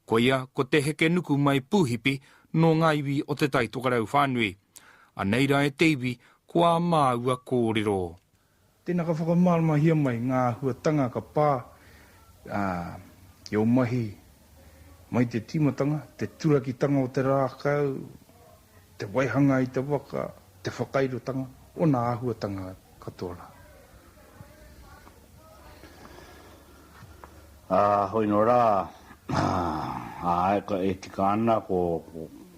Koia ko Te Hekenukumai Pūhipi nō ngā iwi o Te Tai Tokerau whānui. Anei rā e te iwi ko ā māua kōrero. Tēnā ka whakamāramahia mai ngā āhuatanga ka pā i ō mahi mai te tīmatanga, te turakitanga o te rākau, te waihanga i te waka, te whakairotanga, ōna āhuatanga katoa rā. Ā, hoi nō rā, ā, eka e tika ana ko,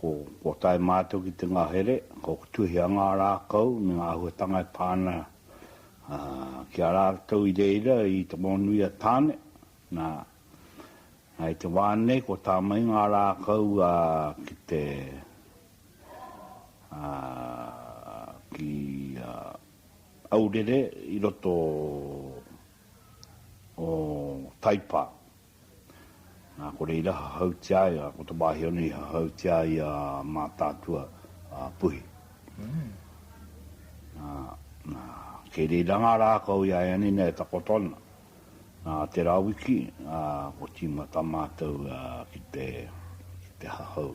ko, kua tae mātou ki te ngahere, ko Tuhia ngā rākau me ngā āhuatanga e pā ana, ā, ki a rātou i reira i te wao nui a Tāne. Na, i te wa nei kua tamai nga rakau ki te, ki a Aurere i roto o Taipa. Na, ko reira hahautia ai, ko te wahi ona i hahautia ai a Matatua a Puhi. Na, na, kei reira nga rakau i a Anina e takoto ana. Nā te rawiki kua tīmata mātou ki te hahau,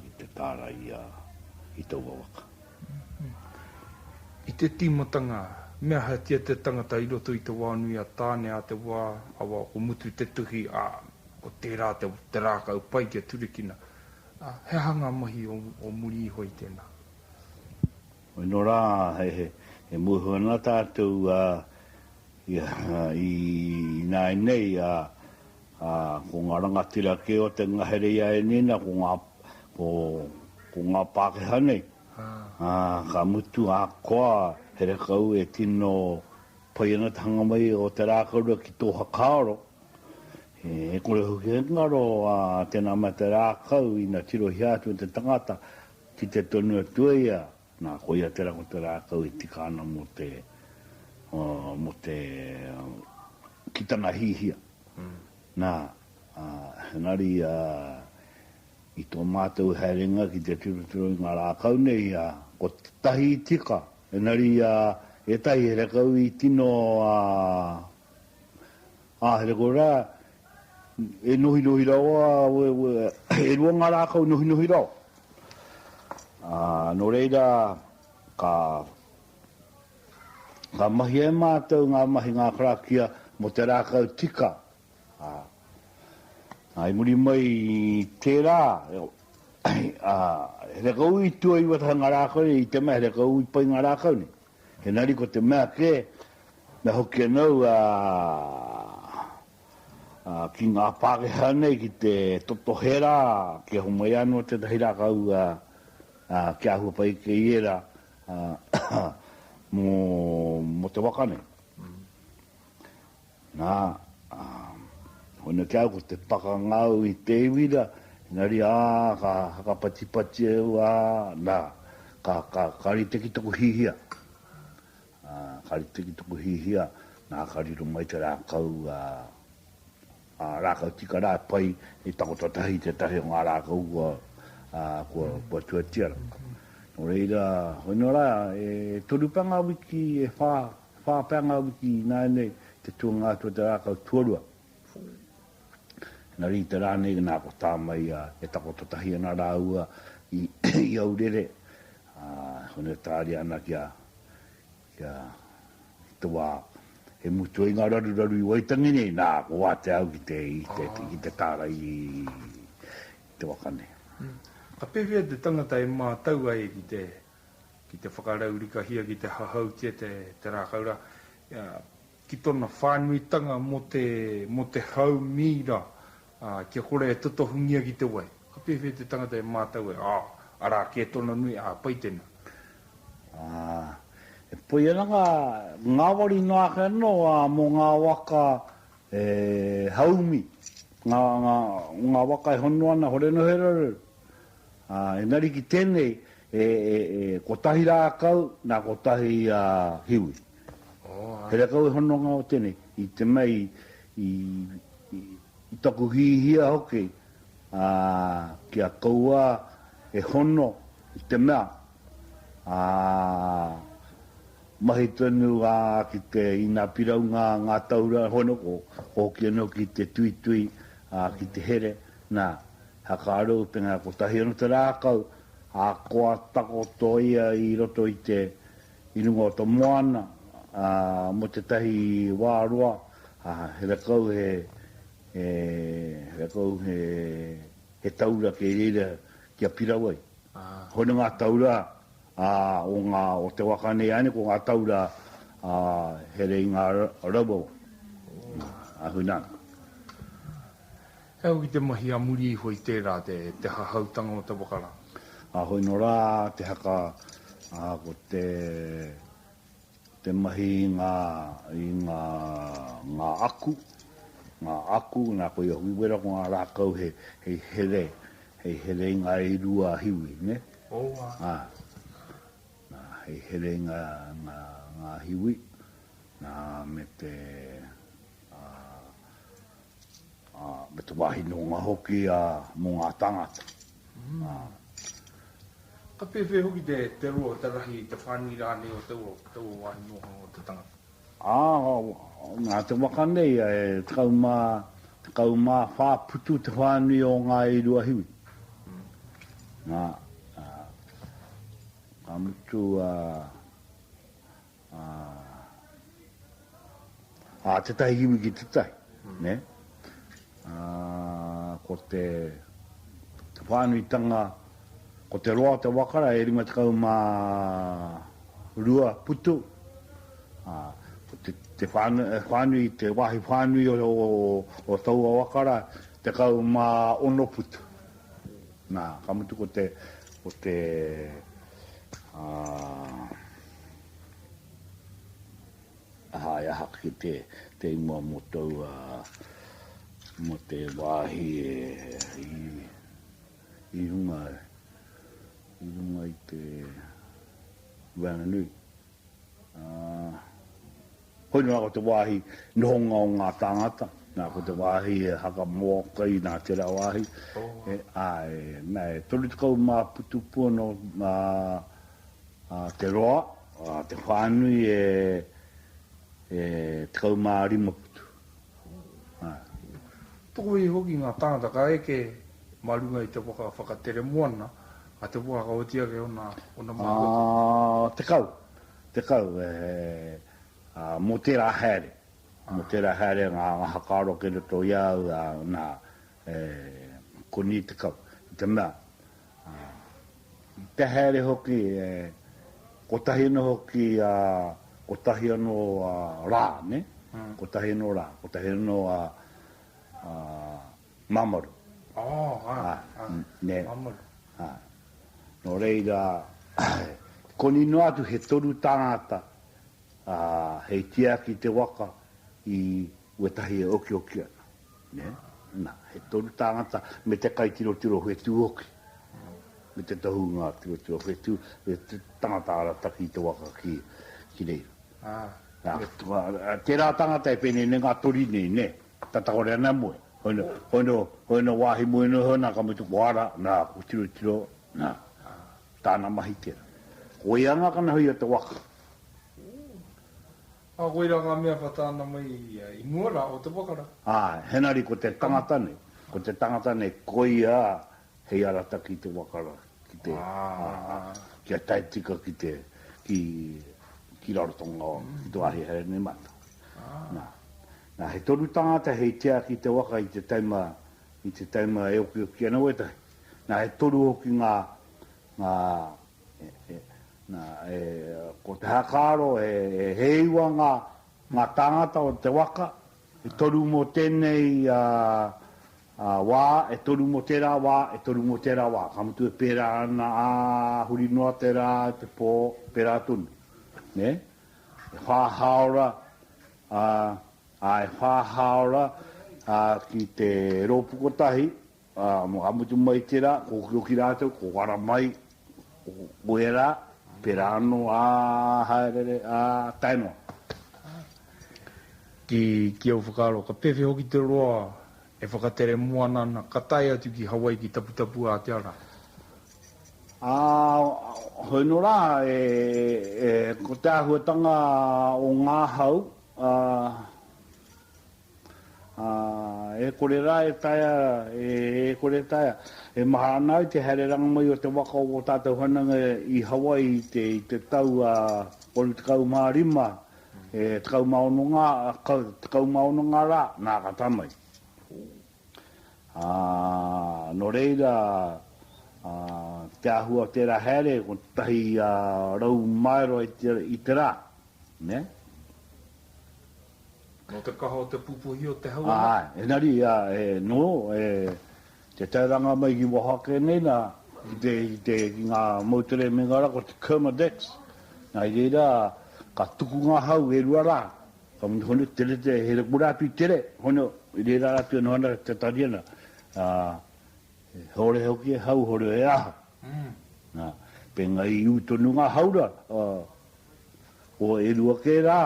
ki te tārai i taua waka. I te tīmatanga, me ahatia te tangata i roto i te wā nui a Tāne a te wā, awa, ko Mutu te tuhi, ā, ko tērā te rākau pai kia turekina. He aha ngā mahi o muri iho i tēnā? Ino rā, e muhu ana tātou i ināinei, ā, ko ngā rangatira kē o te ngahere i a Ēnīna, ko ngā Pākehā nei, ā, ka mutu ahakoa here kau e tino pai ana te hanga mai o te rākau ki tō whakaaro, e kore hoki he ngaro tēnā mea te rākau ina tirohia atu e te tangata, Kite tonu atu ai ia, na, ko ia tera ko te rakau e tika ana mo te, mo te kitanga hihia. Na, engari, i to matou haerenga ki te tirotiro i nga rakau nei, ko tetahi i tika, enari etahi he rakau i tino Haere koe rā, e nohinohi rawa au e, e rua ngā rā kau nohinohi rawa. Ā, nō reira, ka, ka mahia e mātou ngā mahi, ngā karakia mō te rākau tika. Ā, ā, i muri mai i tērā, ā, here kau i tuaiwa tahi ngā rākau nei, i te mea here kau i pai ngā rākau nei. Engari ko te mea kē, me hoki anou ki ngā Pākehā nei ki te totohe rā kia homai anō tētahi rākau kia āhua pai ake i ērā mō te waka nei. Nā, ā, hone kē au ko te pakanga au i te iwi rā, engari, ā, ka hakapatipati au, ā, nā, ka, ka, ka rite ki taku hihia, ā, ka rite ki taku hihia, nā, ka riro mai te rākau, ā, ā, rākau tika rā e pai, i takoto tahi tētahi o ngā rākau kua, ā, kua, kua tuatia rā. Nō reira, hoi nō rā, e toru pea ngā wiki, e whā, Whā pea ngā wiki ināianei te tuanga atu o te rākau tuarua. Engari i te rā nei nā ko Tāmaiā e takoto tahi ana rāua i Aurere, ā, hone e tāria ana ki a, ki a, i te wā e mutu ai ngā raruraru i Waitangi nei, nā, ko wātea au ki te, ki te tārai i te waka nei. Ka pēwhea te tangata e mātau ai ki te ki te whakaraurikahia, ki te hahautia te rākau rā, ki tōna whānuitanga mō te hau mīra kia kore e totohungia ki te wai. Ka pēwhea te tangata e mātau ai, ā, arā kē tōna nui, ā, pai tēnā. Ā, e poi ana ngā ngāwari noa ake anō mō ngā waka e haumi, ngā waka e hono ana, hore noa he raruraru, Ā, engari ki tēnei, e, e, e kotahi rākau nā kotahi a Hiwi. He rākau e hononga o tēnei, i te mei, i, i, i taku hihia hoki, ā, ki a kouā e hono i te mea, ā, mahi tonu ā, ki te ina piraunga ngā taura, hono, ko, ko hoki anō ki te tuitui, ā, ki te here, nā. Hakaru te ngā kotahi o te rākau, ā, kua takoto ia i roto i te, i runga o te moana, ā, mō tētahi wā roa, ā, he rakau he, he, he rakau he, he taura kei reira kia pirau ai. Hoi nō ngā taura, ā, o ngā, o te waka nei ānei ko ngā taura, ā, he reinga rauawa. Ā, hoi nā. He au ki te mahi a muri iho i tērā te hahautanga o te waka rā. Ka hoi no rā te haka, a ko te te mahi i nga i nga nga aku, nga aku, na koia hoki wera ko nga rakau he hei here, hei here i nga e rua a hiwi, ne? Owa. A. Na, hei here i nga nga nga hiwi, na me te, a. ā, me te wāhi noonga hoki, ā, mō ngā tāngata, ā. Ka pēwhea hoki te, te roa, te rahi, te whānui rānei o taua, taua wāhi nohanga o te tangata? Ā, nā te waka nei, e tekau mā, tekau mā whā putu te whānui o Ngāi Ruahiwi. Nā, ā, ka mutu, ā. Ā, tētahi iwi ki tētahi, nē? Ā, ko te whānuitanga, ko te roa o te waka rā e rima tekau mā rua putu. Ā, ko te, te whānui, te wāhi whānui o, o, o taua waka rā, tekau mā ono putu. Nā, ka mutu ko te, ko te, ā, Aha e aha ki te te ingoa mo tou a mo te wahi e i i runga i runga i te Ranganui. Ah. Hoi noa ko te wāhi nohonga o ngā tāngata, nā, ko te wāhi e haka mōka ai nā tērā wāhi, e, āe, nā, e toru tekau mā putu pua nō, ā, ā, te roa, ā, te whānui e, e tekau mā rima putu, āe. Tokohi hoki ngā tāngata ka eke mā runga i te waka whakatere moana a Te Wākauati ake ōna, ōna mākotū. Ā, tekau. 10, e, ā, mō tērā haere, mō tērā haere ngā whakaaro ki roto i a au, ā, nā, e, koni 10, i te mea, ā, i te haere hoki, e, kotahi anō hoki, ā, kotahi anō, ā, rā, nē, kotahi anō rā, kotahi anō, ā, ā, Mamaru. Oh, ah, ah, ah, ne, Mamaru. Ah. No reira, koni noa atu he toru tangata a hei tiaki te waka i wetahi e okioki ana. Ne? Na, he toru tangata me te kai tiro tiro whetu hoki. Me te tohu nga tiro tiro whetu, e te tangata arataki i te waka ki, ki reira. Ah. Na, tera tangata e pene ne nga tori nei, ne? Ka takore ana moe, hoi no wahi moe no ho na ka mutu ko ara, na ko tirotiro, na tana mahi tera. Ko ia nga kana hoi o te waka. A koira nga mea pa tana mai ia i mua ra o te waka ra. Ae, henari ko te tangata nei, ko te tangata nei koia Hei arataki te waka ra ki te, kia tae tika ki te, ki, ki Rarotonga, ki to ahi haere nei matou. Na, na he toru tangata hei tiaki i te waka i te taima, i te taima e okioki ana wetahi. Na e toru hoki nga, nga, e, e, na, e, ko te hakaro e, e he iwa nga, nga tangata o te waka, e toru mo tenei, a, Ā, wā, e toru mō tērā wā, e toru mō tērā wā, ka mutu e pērā ana, ā, huri noa te rā i te pō, pērā tonu. Nē? E whā hāora, ā, ā, e whā hāora, ā, ki te rōpu kotahi, ā, ka mutu mai tērā, kōkiro ki rātou, kōkara mai, Koia rā, pērā anō ā haereere, ā tae noa. Ki au whakaaro, ka pēwhea hoki te roa e whakatere moana ana, ka tae atu ki Hawaii ki Taputapu Ātiara? Ā, hoi nō rā, ko te āhuatanga o ngā hau, ā, e kore rā e taea, e, e kore e taea. E maha ana au te haere rangamai o te waka o ō tātou whananga i Hawaii i te, i te tau, ā, 35, e, 16 ngā, ka, 16 ngā rā, nā, ka tae mai. Ā, nō reira, ā, te āhua o tērā haere, 100 maero i te, i te rā. Nē? Nō te kaha o te pupuhi o te hau anō? Āe, engari, āe, nō, e, te tairanga mai ki waho ake nei nā, ki te, ki te, ki ngā moutere me ngā rā, ko te Kermadex, nā, i reira, ka tuku ngā hau e rua rā, ka mea, hone, tere te, here kura atu i tere, hone, i reira atu e noho ana te Tariana, ā, he hōrehe hoki e hau, hōrehe e aha, Pēnei i ū tonu ngā haura, ko e rua kē rā,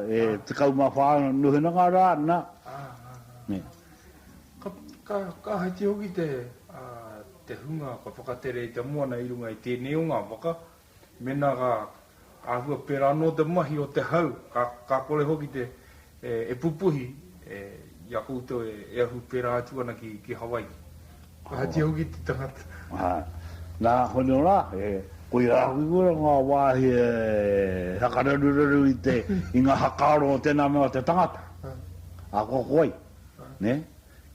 e tekau mā whā nohenanga rā, nā. Ka haiti hoki te hunga ka whakatere i te moana i runga i tēnei o ngā waka, mēnā ka Āhua pērā anō te mahi o te hau, ka kore hoki e pupuhi i a koutou e ahu pērā atu ana ki Hawaiki. Ahatia hoki te tangata? Nā konei rā, koirā hoki kua ngā wāhi e whakararuraru i ngā whakaaro o tēnā mea o te tangata. Ahakoa ko wai,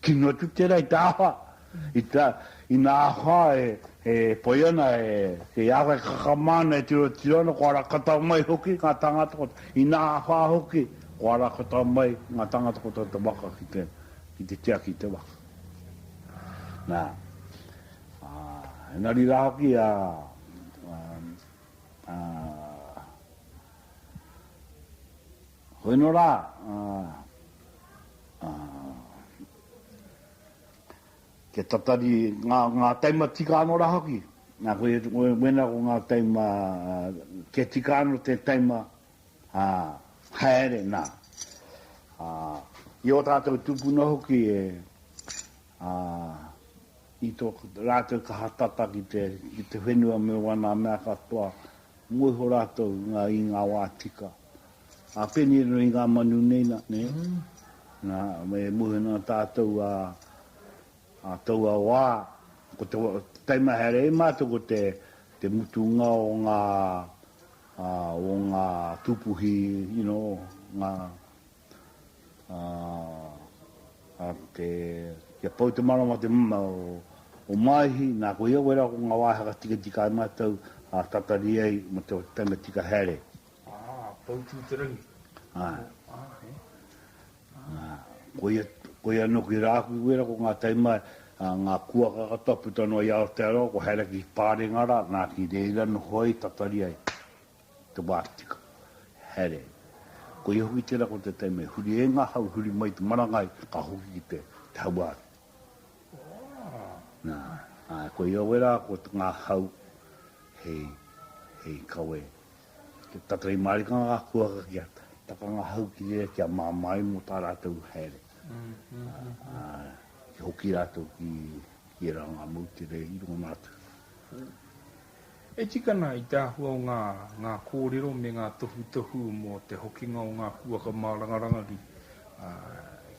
kino atu tērā i te aha I te, ina aha e, e pai ana, e, kei a koe kakama ana e tiro, tiro ana, kua rakatau mai hoki ngā tāngata ko, ina aha hoki, kua rakatau mai ngā tāngata ko tō te waka ki te, ki te tiaki i te waka. Nā, ā, engari rā hoki, ā, ā, ā, koinō rā, ā, ā, kia tatari ngā, ngā taima tika anō rā hoki. Nā, koe, koe, wēnā ko ngā taima, kia tika anō te taima, ā, haere, nā. Ā, i ō tātou tūpuna hoki e, ā, i tō rātou kaha tata ki te, ki te whenua me wānā mea katoa, mō iho rātou i ngā, i ngā wā tika. A pēnei rā i ngā manu nei nā, nē, nā, e muhe nā tātou ā, ā taua wā, ko te wā, taimahere ai mātou ko te, te mutunga o ngā, ā, o ngā tūpuhi, you know, ngā, ā, ā te, kia pau te manawa te, o Māihi, nā, koia wērā ko ngā wāhanga tikatika ai mātou, ā, tatari ai mō te taima tika haere. Ah, Poutū-te-rangi. Ah. Ah, eh. Ah. Koia, koia no ki Rāhuiwera ko ngā taima, ah, ngā kuaka katoa puta noa i Aotearoa, ko Haere ki Pārenga rā, nā ki reira noho ai, tatari ai te wā tika. Haere. Koia hoki tērā ko te taima i huri e ngā hau, huri mai te marangai, ka hoki ki te, te hauāuru. Nā, ah, koia wera ko ngā hau hei, hei kawe. Te taka i marika ngā kuaka ki ata. Taka ngā hau ki reira kia māmāi mō tā rātou haere. Ki hoki rātou ki ērā ngā moutere i rongona atu. E tika ana i te āhua o ngā ngā kōrero me ngā tohutohu mō te hokinga o ngā kuaka māranga rangahī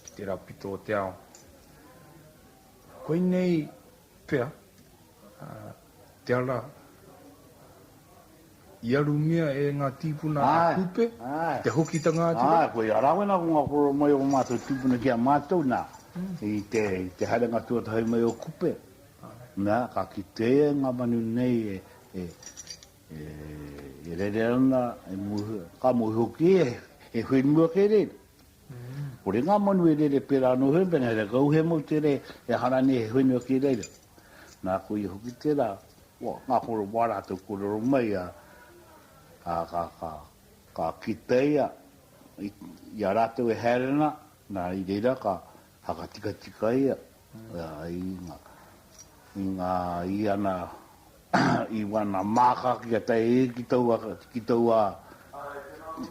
ki tērā pito o te ao. Koinei. Pea, te ara, i arumia e nga tipuna a Kupe, ki te hokitanga atu rā. Āe, koia, arā koe nā konga kōrero mai o mātou tūpuna ki a mātou, nā, i te, i te haerenga tuatahi mai o Kupe, nā, ka kite ia i ngā manu nei e, e, e, e rere ana, e mōhio, ka mōhio kē, he whenua kē rēnei. Kore ngā manu e rere pērā anō he mea, he rakau, he mau te rei, he hara nei, he whenua ki reira. Nā, ko ia hoki tērā, ngā kore wā rātou kōrero mai, ā, ā, ka, ka, ka kitea ia i a rātou e haere ana, nā, i reira ka Whakatikatika ia i ngā iana i wana māka kia tae e ki taua, ki taua,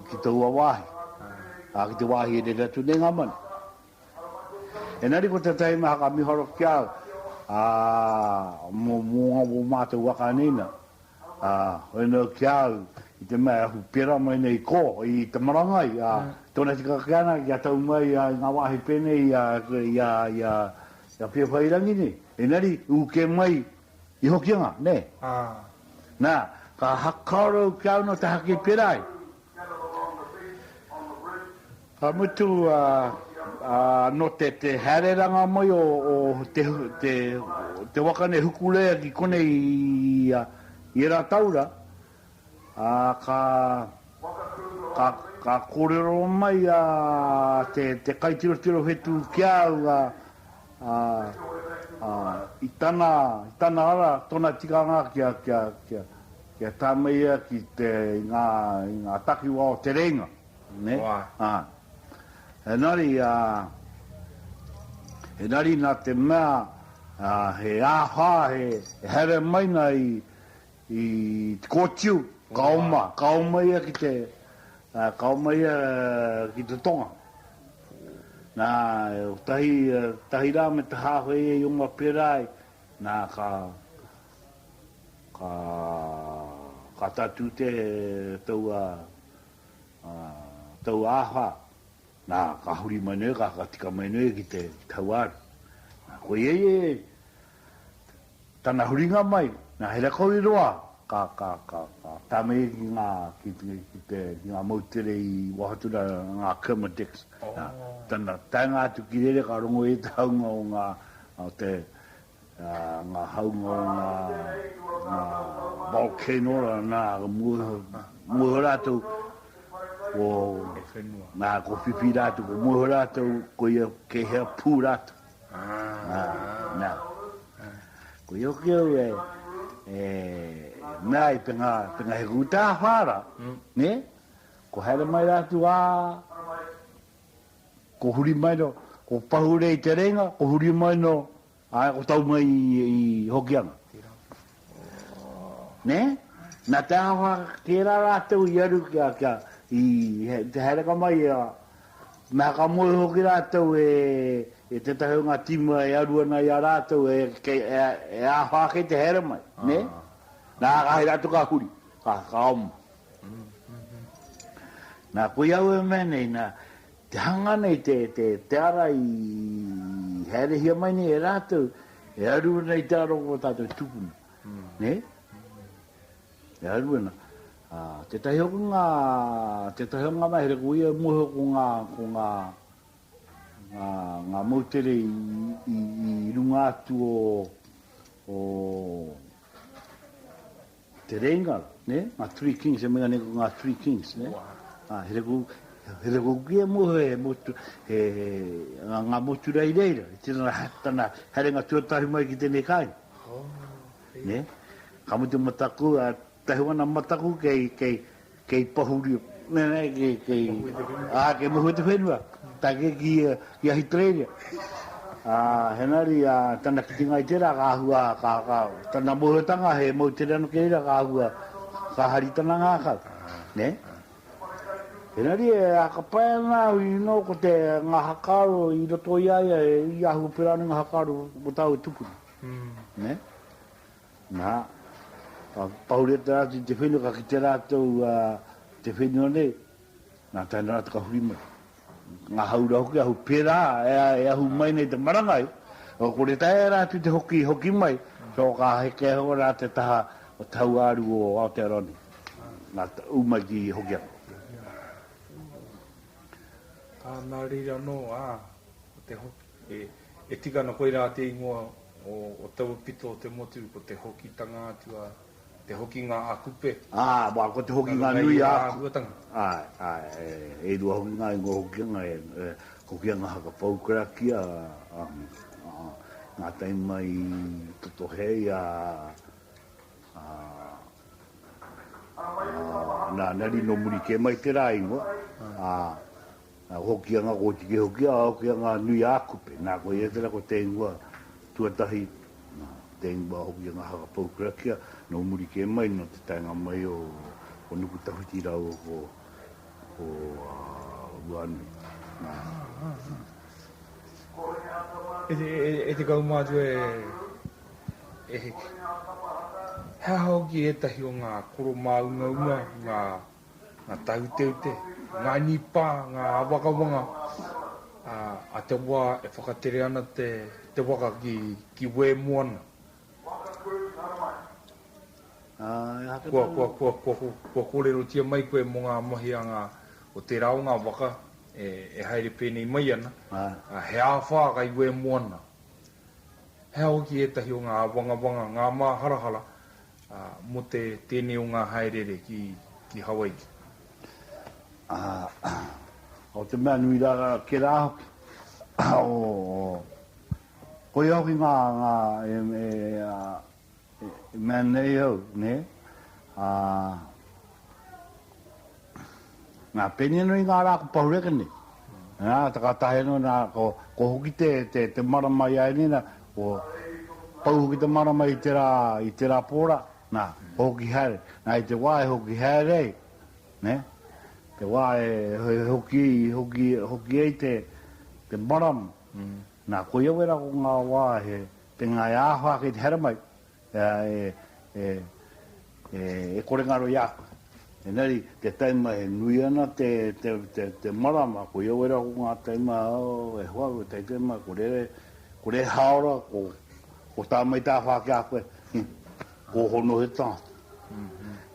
ki taua wāhi, ā, ki te wāhi e rere atu nei ngā manu. Engari ko te taenga haka miharo ki a au, ā, mō, mō, mō mātou waka nei nā, Ā, hoena ki a au, i te mea e ahu pērā mai nei ko, i te marangai, ā, tōna tika ake ana kia tau mai i ngā wāhi pēnei i a, i a, i a, i a Whiawhairangi nei. Engari, ū kē mai i Hokianga, nē? Ā. Nā, ka hakaro au kia au nō te haki pērā ai. Ka mutu anō te haereranga mai o te waka nei Hukuleia ki konei i ērā taura, ā, ka kōrero mai te kaitirotiro whetū ki a au i tana ara, tōna tikanga kia Kia tāmei ia ki te, i ngā, i ngā takiwā o Te Rēinga, nē? Wā. Ā. Engari, ā, engari nā te mea, ā, he āhā, he, he haere mai nā i, i Te Kōtiu, ka oma, ka oma ia ki te, ā, ka oma ia ki te tonga. Nā, kotahi, tahi rā me te hāhoi e i oma pērā ai, nā, ka, Ka kata tu te taua taua aha. Na, ka huri mai noe, ka tika mai noe ki te tauar. Na, ko ia e tana huringa mai, na, he rakau i roa ka tame ki nga, ki te, ki nga moutere i Wahatura, nga Kermadex. Na, tana taenga atu ki rere ka rongo i te haunga o nga, o te ngā haunga o ngā volcano rānā, ka mua iho, mua iho rātou, ko nā, ko whiwhi rātou, ko mua iho rātou, ko ia kei hea pū rātou. Nā, ko ia ki au e, e, mea i te ngā, te ngā heku tā whāra, ne? Ko haere mai rātou, ā, Ko huri mai no, ko pahure i te reinga, ko huri mai no, ae, ko tau mai i Hokianga. Ne? Na te aha ke ra ratou i aru kia, kia, i te haereka mai ia, me haka moe hoki ratou e, e tetahi o nga tima e aru ana i a ratou e, ke, e, e aha ake te haere mai, ne? Na ka hei ratou ka huri, ka, ka oma. Nā, koia au e mea nei, nā, te hanga nei, te, te, te ara i haerehia mai nei e rātou, e aru ana i te ara o tātou tupuna. Mm. Ne? E aru ana. Uh, tētahi hoki ngā, tētahi o ngā mahere, ko ia mohe ko ngā, ko ngā, ngā, ngā moutere i, i, i runga atu o, o, Te Rēinga, nē, ngā Three Kings, e mea nei ko ngā Three Kings, nē. Ā, he reko, he reko ki e mō he motu, he, ngā, ngā motu rei reira, i tēnā, tana herenga tuatahi mai ki tēnei kāinga. Oh, nē. Ka mutu mataku, ā, tahi wana mataku kei, kei, Kei Pohurio, kei Mohuetuwhenua, tae kē ki Ahitereiria. Engari tana kitenga i tērā ka āhua, tana mōhiotanga he moutere anō ki reira ka āhua ka hari tana ngākau. Engari e āka pai ana au i nō ko te ngā whakaaro i roto i a ia i āhua pērā nei ngā whakaaro mō tāu e tūpuna. Na, ka paureta atu i te whenua, ka kite ratou te whenua nei, na taina ratou ka huri mai. Nga haura hoki ahu, pera e ahu mai nei te marangai, ko re taera atu te hoki, hoki mai, so ka heke ho ra te taha o te hauaru o Aotearoa nei, na u mai ki Hokianga. Ana rira no, a, ko te hoki. E tika ana koirā te ingoa o taua pito o te motu, ko te hokitanga atu a te hokinga a Kupe. Āe, ko te hokinga nui a. Nā runga i ērā āhuatanga. Āe, āe, e rua hoki ngā ingoa hokinga, e Hokinga Haka Poukarakia, ā, ngā taima i totohe ai a, a, a, nā, nā rino muri kē mai te rā ingoa, ā. Nā, hoki a ngā kotiki, hoki a, hoki a ngā nui a Kupe. Nā, ko ia tērā ko te ingoa tuatahi, nā, te ingoa hoki a ngā haka pou karakia, nō muri kē mai, nō te taenga mai o, o Nukutawhiti rāua ko, ko, a, Ruanui. Nā, ā. E te kaumātua e, e heke. He aha hoki ētahi o ngā koro māungaunga, ngā ngā tāuteute, ngā nipa, ngā āwangawanga a te wā e whakatere ana te waka ki Wē Moana. Kua kōrerotia mai koe mō ngā mahi a ngā, o tērā o ngā waka e haere pēnei mai ana, he āwhā kai Wē Moana. He aha hoki ētahi o ngā āwangawanga, ngā māharahara Mō te tēnei o ngā hāereere ki Hawaiki. Ko te mea nui rā rā ke rā hoki, koia hoki ngā mea nei au, nē? Nā, pēnei nō i ngā rā ko Pahureka nei. Nā, takatahi anō, nā, ko, ko hoki te, te, te marama i a ēnei, nā, ko pau hoki te marama i te rā, i te rā pōra, nā, hoki haere. Nā, i te wā e hoki haere ai, nē, te wā e, e hoki, hoki, hoki ai te, te marama, nā, koia wera ko ngā wā he, te ngā e āwha kei te haere mai, Ea e, e, e, e kore ngaro i a koe. Engari, te taima e nui ana te, te, te, te marama, ko ia wera ko ngā taima, oh, e hoa, ko tei te mai, ko rere, ko re haora, ko, ko tā mai tā whā ki a koe, ko hono he tātu.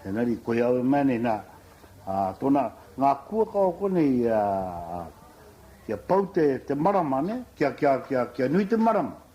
Engari, ko ia au mani, nā, a, tona, ngā kua ka o kone i a, a, kia pau te, te marama, ne, kia, kia, kia, kia nui te marama.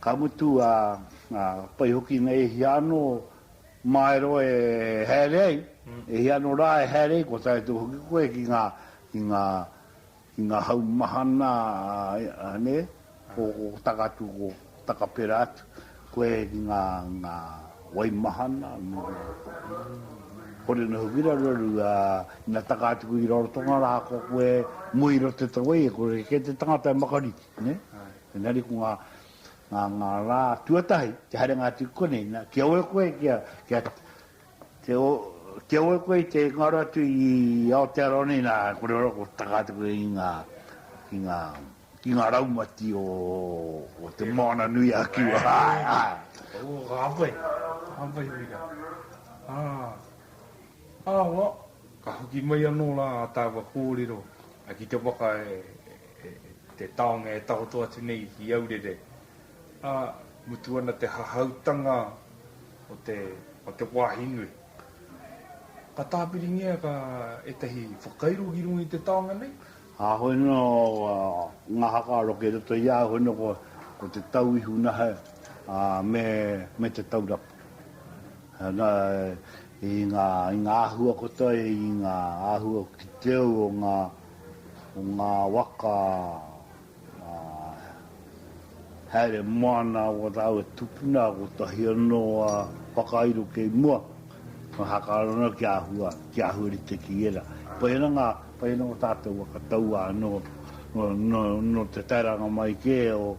Ka mutu, ā, pai hoki nei e hia anō māero e haere ai, e hia anō rā e haere ai, kua tae atu hoki koe ki ngā, ki ngā, ki ngā hau mahana, nē, o Takatū, o Takapera atu. Koe ki ngā, ngā waimahana, me ngā kore noho ki raruraru, ā, ina taka atu koe ki Rarotonga rā, ko koe mua i roto te tangawhai, e kore kē te tangata e makariki, nē? Engari ko ngā, ngā, ngā rā tuatahi, te haerenga atu ki konei, nā, kia ora koe, kia, kia, kia, kia ora koe i te ngaro atu i Aotearoa nei, nā, kore ora koe taka atu koe i ngā, i ngā. ki ngā raumati o Te Moana nui a Kiwa. Ka hāpai, ka hāpai hoki rā. Ā, ā, ka hoki mai anō rā ā tāua kōrero ki te waka e te taonga e takoto atu nei ki Aurere. Ā, mutu ana te hahautanga o te, o te wāhi nui. Ka tāpiringia ka ētahi whakairo ki runga i te taonga nei. A hoi no nga haka aro ke roto i a hoi no ko te tau ihu nahe a me te tau rapu. Na i nga ahua kotoi i nga ahua ki te au o nga waka Haere moana ko tāu e tupuna, kotahi anō a whakairo kei mua, me hakaaro ana ki āhua, ki āhua rite ki ērā. Pai ana ngā, pai ana o tātou waka taua anō, nō te tairanga mai kē o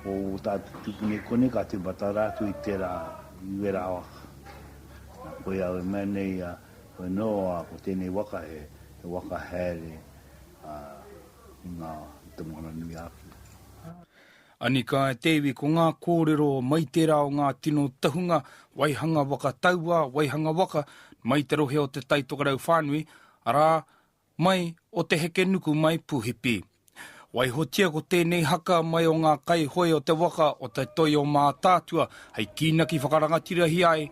o tātou tupuna i konei ka tīmata rā atu i tērā, i wērā waka. Nā koia au e mea nei, koinō ko tēnei waka he waka haere, i ngā, i te Moana nui a Awhiriki. Anika e te iwi ko ngā kōrero mai tērā o ngā tino tahunga, waihanga waka taua, waihanga waka mai te rohe o Te Tai Tokerau whānui, arā, mai o Te Hekenuku mai Puhipi. Waihotia ko tēnei haka mai o ngā kaihoe o te waka o Te Toi-o-Mātaatua hei kīnaki whakarangatirahi ai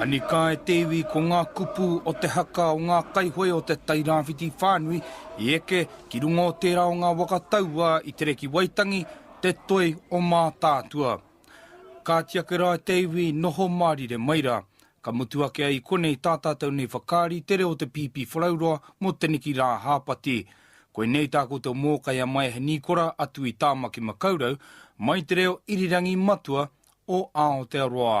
Anika e te iwi ko ngā kupu o te haka o ngā kaihoe o te Tairāwhiti whānui i eke ki runga o tērā o ngā waka taua i tere ki Waitangi, te toi o Mātaatua. Kāti ake rā te iwi noho mārire mai rā. Ka mutu ake ai i konei tā tātou nei whakaari te reo o te Pīpīwharauroa mō teneki rā a Hāpati. Koinei tā koutou mōkai a Maehe Nīkora a Tui Tāmaki Makaurau mai te reo irirangi matua o Aotearoa.